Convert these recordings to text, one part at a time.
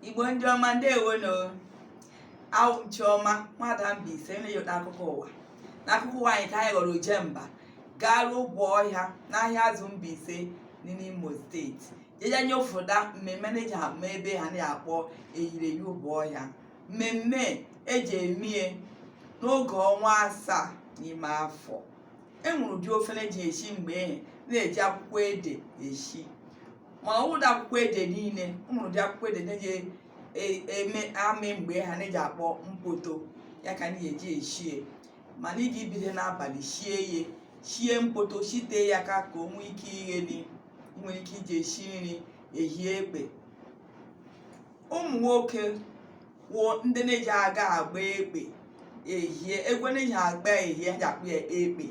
igbo ndị ọma ndewonu awụ m chiọma nwada Mbaise na-enye unu akụkọ ụwa n'akụkọ ụwa anyị taa anyị ghọrọ ojemba gaa ruo Obohia n'Ahịazụ Mbaise dị n'imo steeti jeje nyofụta mmemme na-eji ama ebe ha na-akpọ eyiri eyi Obohia mmemme eji emie n'oge ọnwa asaa n'ime afọ enwere ụdị ofe na-eji eshi mgbe ehe na-eji akwụkwọ ede eshi mana ọ wụdị akwụkwọ ede niile o nwere ụdị akwụkwọ ede na-eji e- eme amị mgbe ha na-eji akpọ mpoto ya ka anyị eji eshie mana ị ga-ebido n'abalị shie ya shie mpoto shite ya ka ka o nwee ike igheli ị nwere ike iji eshi nri ehie ekpe ụmụ nwoke wụ ndị na-eji aga agba ekpe ehie egwu na-eji agba ehie ha ji akpọ ya ekpe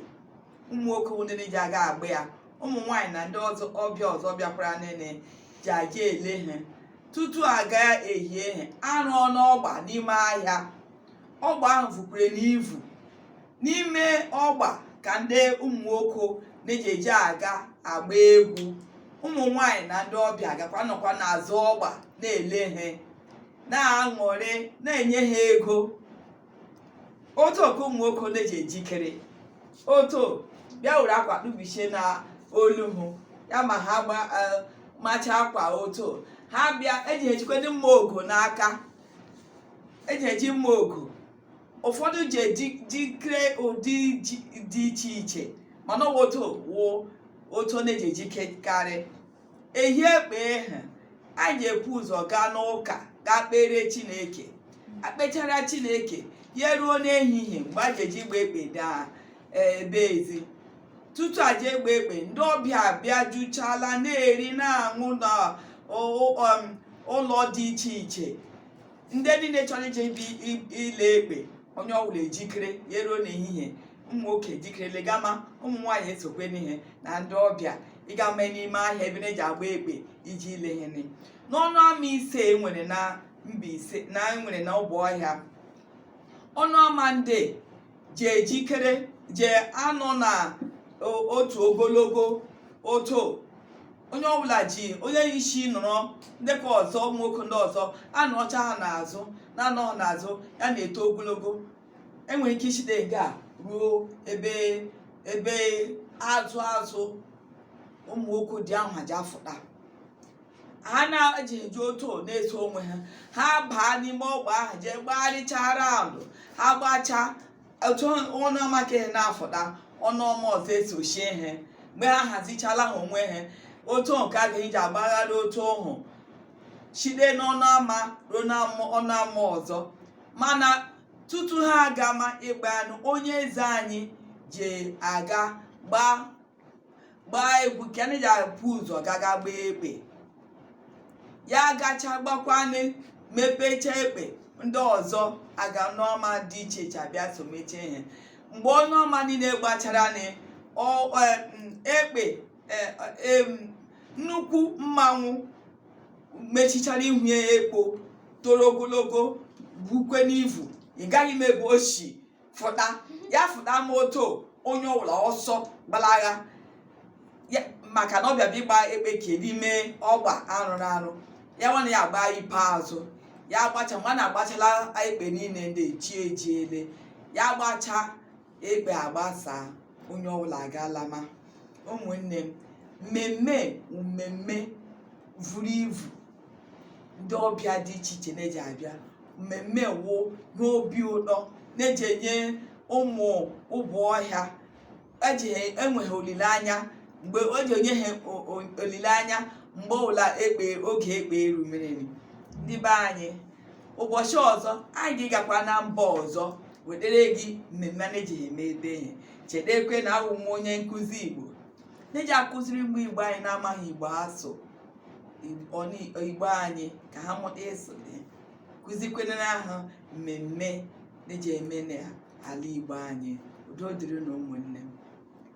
ụmụ nwoke wụ ndị na-eji aga agba ya ụmụ nwaanyị na ndị ọbịa ọzọ bịakwaranụ na-eji aja ele ha tutu aga ehie ha arụ n'ọgba n'ime ahịa ọgba ahụ vukwere n'ivu n'ime ọgba ka ndị ụmụ nwoke na-eji eji aga agba egwu ụmụ nwaanyị na ndị ọbịa gakwa nọkwa n'azụ ọgba na-ele ha na-aṅụrị na-enye ha ego otu oke ụmụ nwoke na-eji ejikere otu bịa were akwa kpubichie na olu hụ ya ma ha gba eh, macha akwa otu ha bịa eji ejikwe ndị mma ogo n'aka eji eji mma ogo ụfọdụ ji eji- jikere ụdị ji- dị iche iche mana ọ bụ otu wụ otu ọ na-eji ejikekarị ehie ekpe ahụ anyị ga-ebu ụzọ gaa n'ụka gaa kpere chineke akpechara chineke ya ruo n'ehihie mgbe a ga-eji gba ekpe daa ebe ezi tutu aja agba ekpe ndị ọbịa abịa juchala na-eri na-aṅụ na ụlọ dị iche iche ndị niile chọrọ ije ibi i- ile ekpe onye ọbụla ejikere ya eruo n'ehihie ụmụ nwoke ejikerele gama ụmụ nwaanyị esokweni ha na ndị ọbịa ịgama n'ime ahịa ebe na-eji agba ekpe ije ile ihe nri n'ọnụ ama ise e nwere na Mbaise na e nwere na Obohia ọnụ ama ndị ji ejikere ji anọ na otu ogologo oto onye ọbụla ji onye isi nọrọ nde ke ọzọ ụmụ nwoke ndị ọzọ anọcha ha n'azụ na-anọ ha n'azụ ya na-eto ogologo enwere ike ishite nga ruo ebe ebe azụ azụ ụmụ nwoke dị ahụ ji afụta ha na-eji eji otu na-eso onwe ha ha baa n'ime ọgba ahụ jee gbagharịchara alụ ha gbachaa otu ọnụ ama ke ha na-afụta ọnụ ama ọzọ esochie ha mgbe ha hazichala ha onwe ha otu nke a ga-eji agbagharị otu ọhụ site n'ọnụ ama ruo n'ọnụ ama ọzọ mana tutu ha agama ịgba anụ onye eze anyị ji aga gbaa gbaa egwu ka anyị ga-ebu ụzọ gaga gbaa ekpe ya gacha gbakwanụ mepecha ekpe ndị ọzọ aga n'ama dị iche iche abịa somechie ha mgbe ọnụ ama niile gbachara nị, ọ- ọ- m, ekpe e- em, nnukwu mmanwụ mechichara ihu ya ekpo toro ogologo bukweni ivu ị gaghị ịma ebe o si fụta ya fụta ma otu onye ọbụla ọsọ gbalaga ya maka na ọ bịa bịa ịgba ekpe ke n'ime ọgba arụrụ arụ ya nwana ya agba ikpeazụ ya agbacha ma na agbachala ekpe niile ndị chi ejiele ya agbacha ekpe agbasa onye ọbụla agalama ụmụnne m mmemme mmemme vuru ivu ndị ọbịa dị iche iche na-eji abịa mmemme wụ n'obi ụtọ na-eji enye ụmụ obohia eji ha enwe ha olileanya mgbe o ji enye ha o- o- olileanya mgbe ọbụla ekpe oge ekpe eru mereri ndị be anyị ụbọchị ọzọ anyị ga-agakwa na mba ọzọ wetere gị mmemme a na-eji eme ebe ha chetekwe na awụ m onye nkụzi igbo na-eji akụziri ndị igbo anyị na-amaghị igbo asụ igbo anyị ka ha mụta ịsụ ya kụzikwenere ha mmemme na-eji eme n'ala igbo anyị udo dịrị nụ ụmụnne m